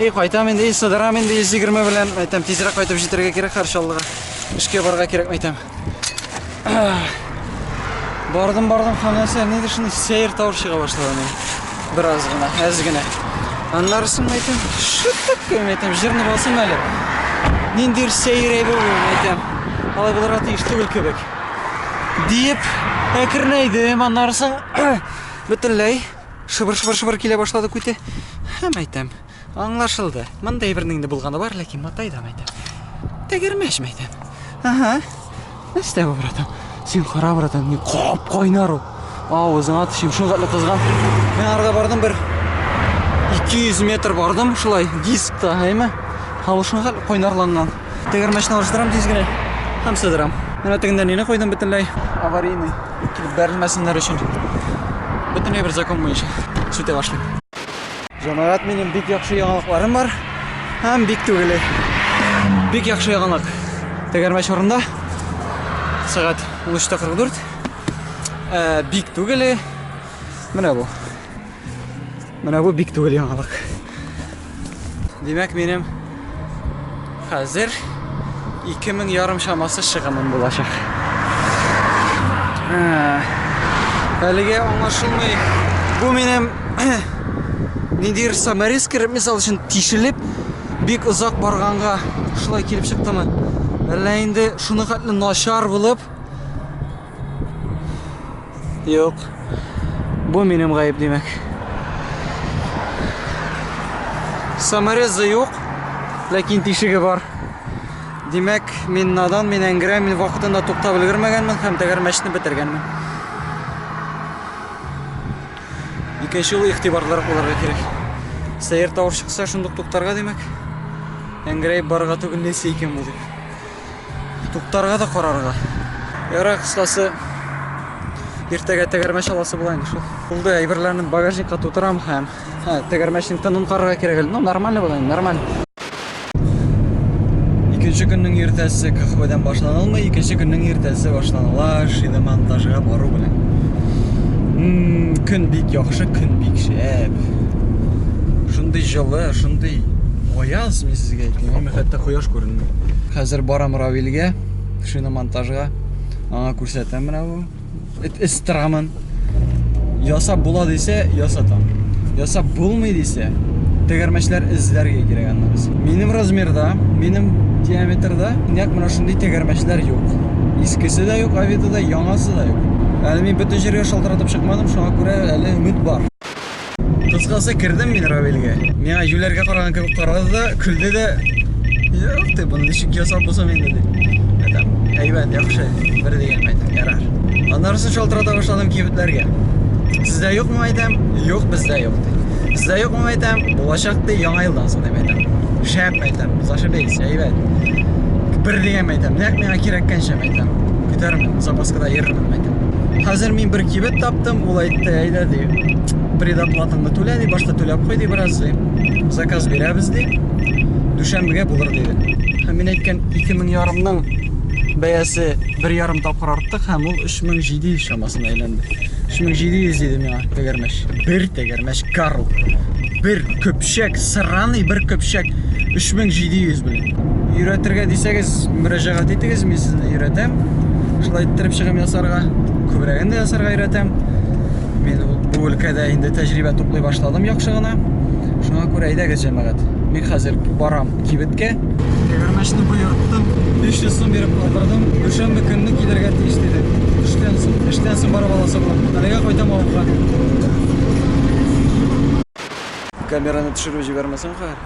И кайтам инде, и сыдырам инде 120 белән. Әйтәм, тизрәк кайтып җитәргә кирәк Харшаллыга. Эшкә барырга кирәк мәйтәм. Бардым, бардым, ханәсә, нидер шуны сәер тавыш чыга башлады менә. Бераз гына, әз генә. Аннарысын мәйтәм, шыттык кем мәйтәм, җырны басым әле. Ниндир сәер әйбер ул мәйтәм. Алай булырга тиеш түгел кебек. Диеп, әкренәйдем, аннарысын Бөтенләй шыбыр-шыбыр-шыбыр килә башлады күте. Һәм әйтәм, аңлашылды. Мындай бернең инде булганы бар, ләкин матайдан әйтәм. Тәгәрмәш мәйтәм. Ага. Нәрсә бу, братан? Син кара, братан, ни кап кайнар ул. Авызыңа төшим, шул кадәр кызган. Мен арга бардым бер 200 метр бардым шулай дискта, әйме? Һавышыңга кайнарланган. Тегермәчне алыштырам тиз генә һәм сыдырам. Менә тегендә нине койдым бөтенләй? Аварийный. Килеп бәрелмәсеннәр өчен. Бөтенләй бер закон буенча сүтә башлыйм. Җәмәгать минем бик яхшы яңалыкларым бар һәм бик түгеле. Бик яхшы яңалык. Тегермәч урында сәгать 13:44. Э, бик түгеле. Менә бу. Менә бу бик түгел яңалык. Димәк, минем хәзер 2000 ярым чамасы чыгымым булачак. Әлегә аңлашылмый. Бу минем ниндидер саморез кереп, мисал өчен, тишелеп, бик озак барганга шулай килеп чыктымы? Әллә инде шуны хәтле начар булып, Юк. Бу минем гаеп димәк. Саморезы юк, ләкин тишеге бар. Димәк, мин надан, мин әңгерә, мин вакытында туктап өлгермәгәнмен һәм тәгәрмәчне бетергәнмен. Икенче юлы игътибарлырак булырга кирәк. Сәер тавыш чыкса, шундук туктарга димәк. Әңгерәеп барырга түгел, нәрсә икән бу дип. Туктарга да карарга. Яра кыскасы. Иртәгә тәгәрмәч аласы була инде шул. Булды, әйберләрне багажникка тутырам һәм һә, тәгәрмәчнең тынын карарга кирәк әле. Ну, нормально була, нормально. Икенче көннең иртәсе каһвәдән башланылмый, икенче көннең иртәсе башланыла шиномонтажга бару белән. Көн бик яхшы, көн бик шәп. Шундый җылы, шундый аяз, мин сезгә әйтәм, хәтта кояш күренми. Хәзер барам Равилгә, шиномонтажга. Аңа күрсәтәм менә бу. Эт эстрамын. Ясап була дисә, ясатам. Ясап булмый дисә, тегәрмәчләр эзләргә кирәк аны без. Минем размерда, минем диаметрда нәкъ менә шундый тегәрмәчләр юк. Искесе дә юк, авида да, яңасы да юк. Әле мин бөтен җиргә шалтыратып чыкмадым, шуңа күрә әле өмет бар. Кыскасы, кердем мин Равилгә. Миңа җүләргә караган кебек карады да, көлде дә. Юк, ты буны ничек ясап булсын инде дип. Әйтәм, әйбәт, яхшы, бер дигән әйтәм, ярар. Аннарысын шалтырата башладым кибетләргә. Сездә юкмы әйтәм? Юк, бездә юк ди. Сездә юкмы әйтәм? Булачак ди, яңа елдан соң дип әйтәм. Шәп әйтәм, зашибись, әйбәт. Бер дигән әйтәм, нәкъ миңа кирәккәнчә әйтәм. Көтәрмен, запаскада йөрермен әйтәм. Хәзер мин бер кибет таптым, ул әйтте, әйдә ди. Предоплатаңны түлә ди, башта түләп куй ди бераз ди. Заказ бирәбез ди. Дүшәмбегә булыр диде. Һәм мин әйткән 2000 ярымның бәясе бер ярым тапкыр арттык һәм ул 3700 чамасына әйләнде. 3700 диде миңа тәгәрмәч. Бер тәгәрмәч кару. Бер көпшәк, сраный бер көпшәк 3700 белән. Өйрәтергә дисәгез, мөрәҗәгать итегез, мин сезне өйрәтәм. Шулай иттереп чыгым ясарга, күбрәген дә ясарга өйрәтәм. Мин бу өлкәдә инде тәҗрибә туплый башладым яхшы гына. Шуңа күрә әйдәгез, җәмәгать. Мин хәзер барам кибеткә. Тегермәчне боерттым, 300 сум биреп алдырдым. Дүшәмбе көнне килергә тиеш диде. Эштән соң, эштән соң барып аласы булам. Әлегә кайтам авылга. Камераны төшереп җибәрмәсәм хәер.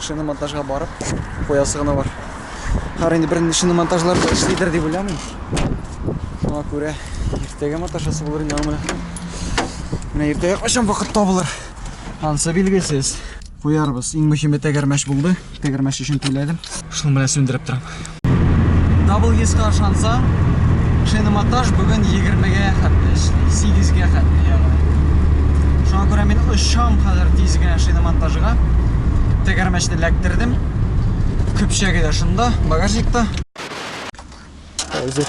шиномонтажга барып куясы гына бар. Хәр инде бернинди шиномонтажлар да эшлидер дип уйламыйм. Шуңа күрә иртәгә маташасы булыр инде аңа. Менә иртәгә кайчан вакыт табылыр? Ансы билгесез. Куярбыз. Иң мөһиме тәгәрмәч булды. Тәгәрмәч өчен түләдем. Шуны менә сүндереп торам. WS-ка ышансаң, шиномонтаж бүген 20-гә хәтле эшли, 8-гә хәтле ягъни. Шуңа күрә мин очам хәзер тиз генә шиномонтажга. Тәгәрмәчне эләктердем. Көпчәге дә шунда, багажникта. Хәзер